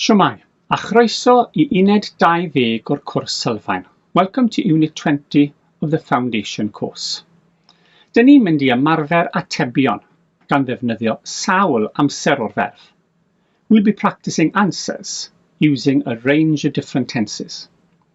Shwmae, a chroeso i uned 20 o'r cwrs sylfaen. Welcome to unit 20 of the foundation course. Dyn ni'n mynd i ymarfer atebion gan ddefnyddio sawl amser o'r ferf. We'll be practicing answers using a range of different tenses.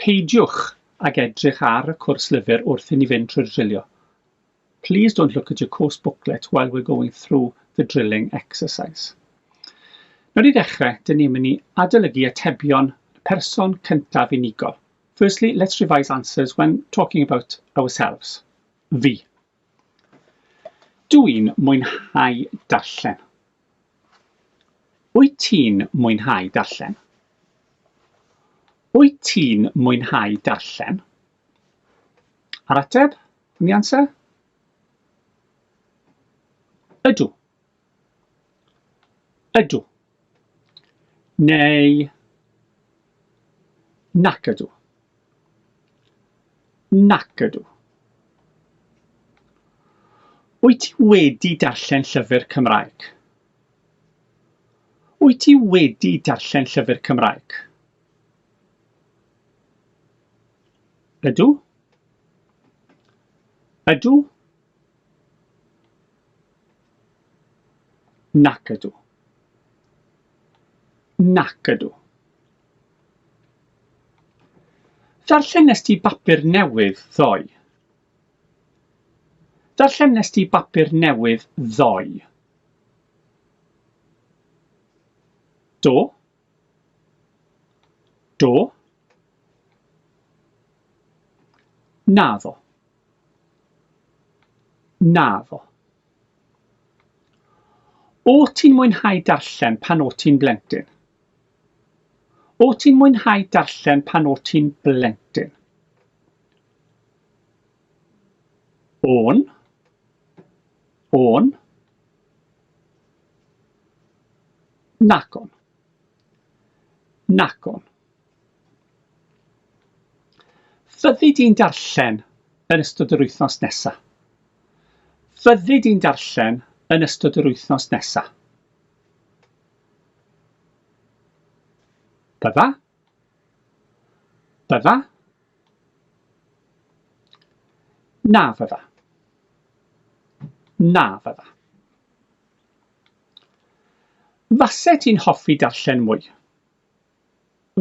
Peidiwch ag edrych ar y cwrs lyfr wrth i ni fynd trwy'r drilio. Please don't look at your course booklet while we're going through the drilling exercise. Nawr i ddechrau, dyn ni'n mynd i adolygu atebion y person cyntaf unigol. Firstly, let's revise answers when talking about ourselves. Fi. Dw i'n mwynhau darllen. Wyt ti'n mwynhau darllen? Wyt ti'n mwynhau darllen? A'r ateb yn the answer? Ydw. Ydw. Neu Nac ydw. Nac ydw. Wyt ti wedi darllen llyfr Cymraeg? Wyt ti wedi darllen llyfr Cymraeg? Ydw. Ydw. Nac ydw. Nac ydw. Ddarllenest ti bapur newydd ddoe? Ddarllenest ti bapur newydd ddoe? Do. Do. Naddo. Naddo. O't ti'n mwynhau darllen pan o't ti'n blentyn? O't ti'n mwynhau darllen pan o't ti'n blentyn? O'n. O'n. Nagon. Nagon. Fyddi di'n darllen yn ystod yr wythnos nesa. Fyddi di'n darllen yn ystod yr wythnos nesa. Bydda. Bydda. Na fydda. Na fydda. Fase ti'n hoffi darllen mwy?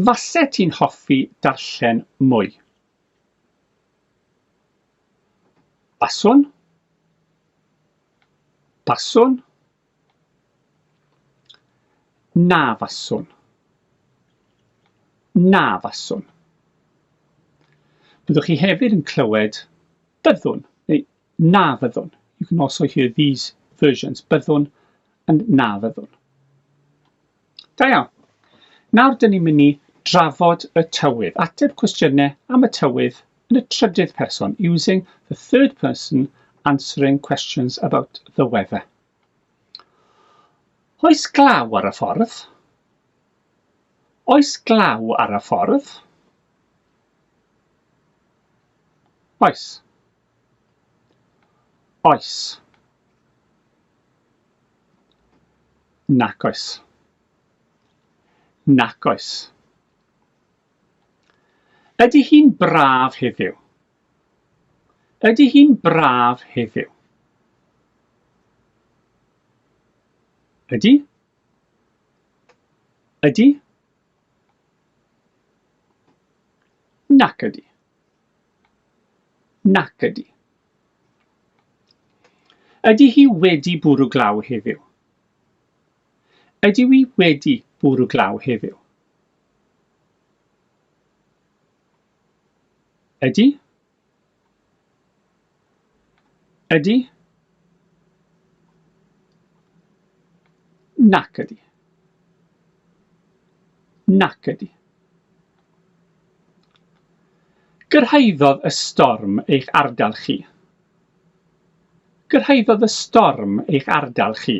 Faset ti'n hoffi darllen mwy? Baswn. Baswn. Na faswn. Na faswn. Byddwch chi hefyd yn clywed byddwn neu Na fyddwn, you can also hear these versions, byddwn and na fyddwn. Da iawn. Nawr dyn ni'n mynd i drafod y tywydd, ateb cwestiynau am y tywydd yn y trydydd person, using the third person answering questions about the weather. Oes glaw ar y ffordd? Oes glaw ar y ffordd? Oes. Oes. Nac oes. Nac oes. Ydy hi'n braf heddiw? Ydy hi'n braf heddiw? Ydy? Ydy? Nac ydy. Nac ydy. Ydy hi wedi bwrw glaw heddiw? Ydyw i wedi bwrw glaw heddiw? Ydy? Ydy? Nac ydy. Nac ydy. Gyrhaeddodd y storm eich ardal chi. Gyrhaeddodd y storm eich ardal chi.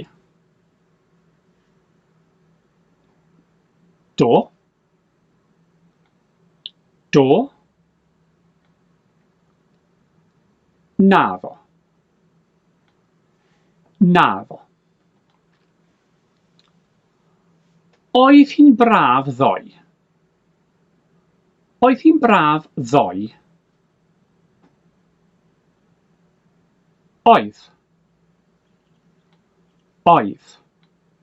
Do, Do. Naddo. Naddo. Oedd hi'n braf ddoe? Oedd hi'n braf ddoe? Oedd. Oedd.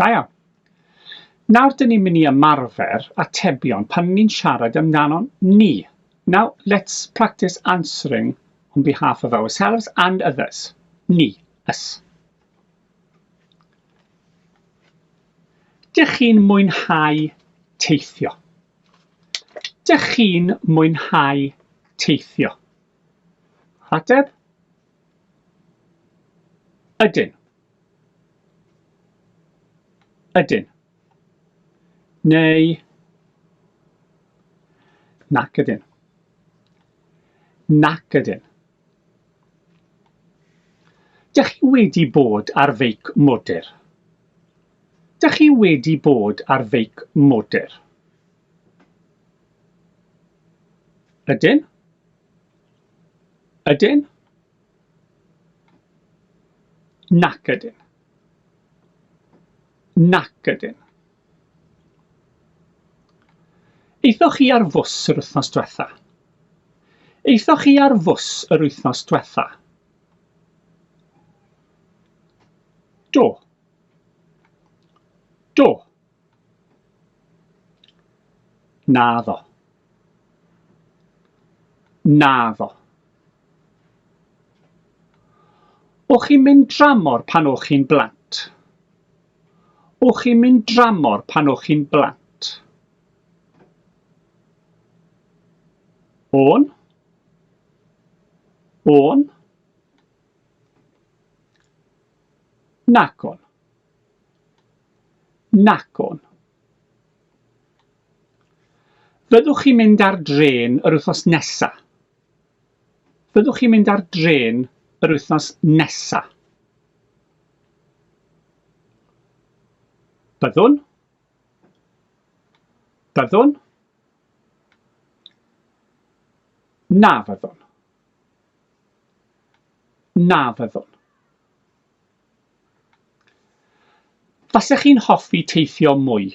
Da iawn. Nawr dyn ni'n mynd i ymarfer atebion pan ni'n siarad amdano ni. Now let's practice answering on behalf of ourselves and others. Ni, us. Dych chi'n mwynhau teithio? Dych chi'n mwynhau teithio? Ateb, Ydyn. Ydyn. Neu nac ydyn. Nac ydyn. Dych chi wedi bod ar feic modur? Dych chi wedi bod ar feic modur? Ydyn? Ydyn? Nac ydyn. Nac ydyn. Eithoch chi ar fws yr wythnos diwetha? Eithoch chi ar fws yr wythnos diwetha? Do. Do. Na ddo. Naddo. O'ch chi'n mynd dramor pan o'ch chi'n blant? O'ch chi'n mynd dramor pan o'ch chi'n blant? O'n? O'n? Nagon. Nagon. Fyddwch chi'n mynd ar drên yr wythnos nesa? Fyddwch chi'n mynd ar drên yr wythnos nesa? Byddwn. Byddwn. Na fyddwn. Na fyddwn. Fasech chi'n hoffi teithio mwy?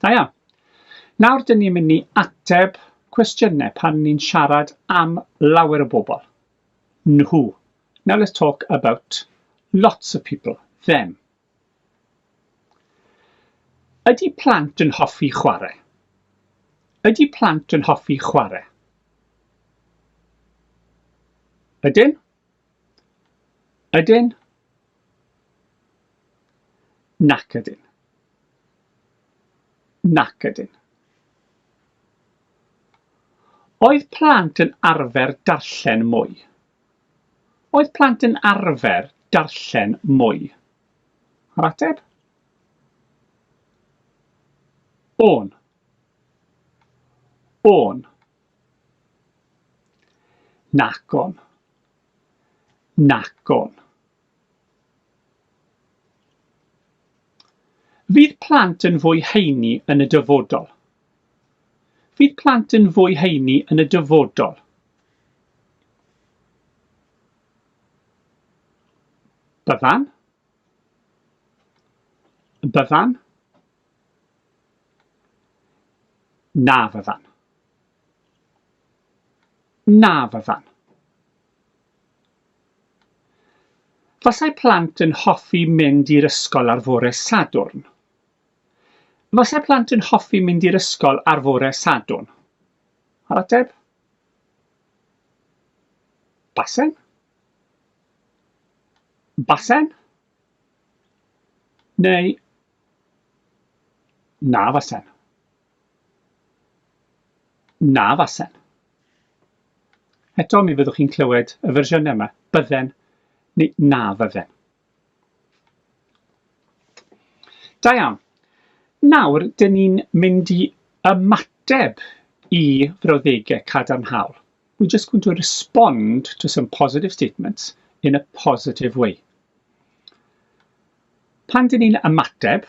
Da iawn. Nawr dyn ni'n mynd i ateb cwestiynau pan ni'n siarad am lawer o bobl. Nhw. Now let's talk about lots of people, them. Ydy plant yn hoffi chwarae? Ydy plant yn hoffi chwarae? Ydyn? Ydyn? Nac ydyn. Nac ydyn. Oedd plant yn arfer darllen mwy? Oedd plant yn arfer darllen mwy? Yr ateb? O'n. O'n. Nagon. Nagon. Fydd plant yn fwy heini yn y dyfodol? Fydd plant yn fwy heini yn y dyfodol? Byddan? Byddan? Na fyddan. Na, fyddan. Fasai plant yn hoffi mynd i'r ysgol ar fore Sadwrn. Fasai plant yn hoffi mynd i'r ysgol ar fore Sadwrn. A'r ateb? Basen? Basen? Neu na fasen. Na fasen. Eto mi fyddwch chi'n clywed y fersiynau yma, bydden neu na fydden. Da iawn. Nawr, dyn ni'n mynd i ymateb i frawddegau cadarnhaol. We're just going to respond to some positive statements in a positive way. Pan dyn ni'n ymateb,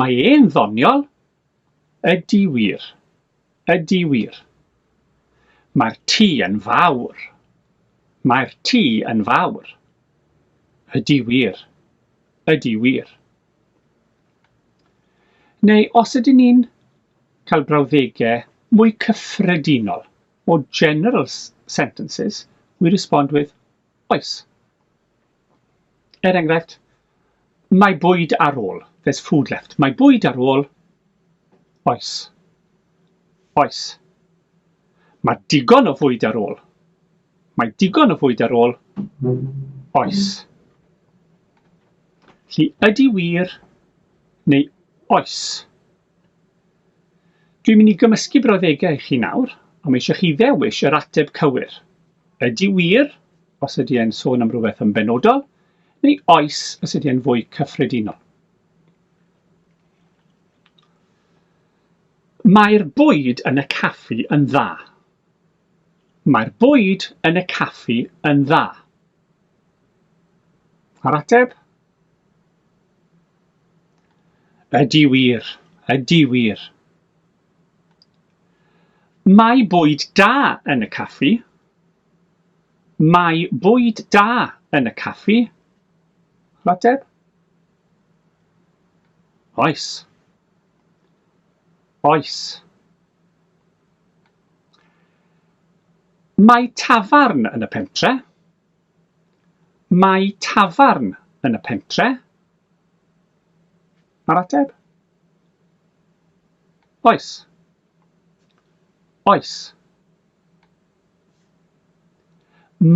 Mae e'n ddoniol? Ydi wir. Ydi wir. Mae'r tŷ yn fawr. Mae'r tŷ yn fawr. Ydi wir. Ydi wir. Neu os ydyn ni'n cael brawddegau mwy cyffredinol, more general sentences, we respond with oes. Er enghraifft, mae bwyd ar ôl, there's food left. Mae bwyd ar ôl, oes. Oes. Mae digon o fwyd ar ôl. Mae digon o fwyd ar ôl, oes. Lly ydy wir neu oes? Dwi'n mynd i gymysgu brawddegau i chi nawr, a mae eisiau chi ddewis yr ateb cywir. Ydy wir, os ydy e'n sôn am rhywbeth yn benodol, neu oes, os ydy e'n fwy cyffredinol. Mae'r bwyd yn y caffi yn dda. Mae'r bwyd yn y caffi yn dda. A'r ateb? Ydi wir, ydi wir. Mae bwyd da yn y caffi. Mae bwyd da yn y caffi. Rhateb? Oes. Oes. Mae tafarn yn y pentre. Mae tafarn yn y pentre? Mae'r ateb? Oes. Oes.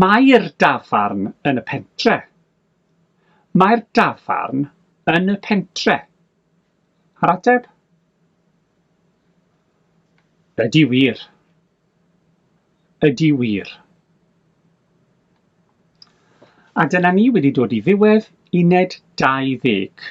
Mae'r dafarn yn y pentre? Mae'r dafarn yn y pentre? A'r ateb? Ydy wir. Ydy wir. A dyna ni wedi dod i ddiwedd uned 20.